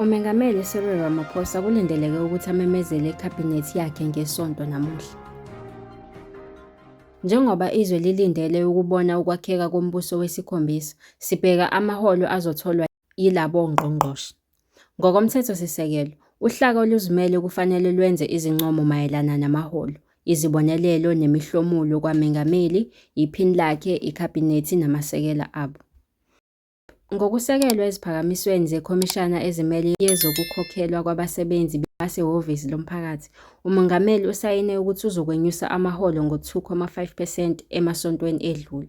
UMengameli Cyril Ramaphosa kulindeleke ukuthi amemezele ikhabhinethi yakhe ngesonto namuhla. Njengoba izwe lilindele ukubona ukwakheka kombuso wesikhombisa, sibheka amaholo azotholwa yilabo ngqongqoshe. NgokoMthethosisekelo, uhlaka oluzimele kufanele lwenze izincomo mayelana namaholo, izibonelelo nemihlomulo kwamengameli, yiphini lakhe, ikhabhinethi namasekela abo. Ngokusekelwe eziphakamisweni zeKhomishana Ezimele Yezokukhokhelwa Kwabasebenzi Basehhovisi Lomphakathi, uMongameli usayine ukuthi uzokwenyusa amaholo ngo-2.5 percent emasontweni edlule.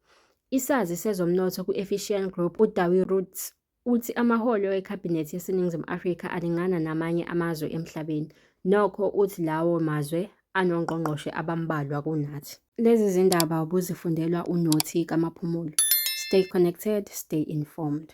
Isazi sezomnotho kwi-Efficient Group uDawie Roots uthi amaholo ekhabhinethi yaseNingizimu Afrika alingana namanye amazwe emhlabeni. Nokho uthi lawo mazwe anongqongqoshe abambalwa kunathi. Lezi zindaba ubuzifundelwa uNothi kaMaphumulo. Stay connected, stay informed.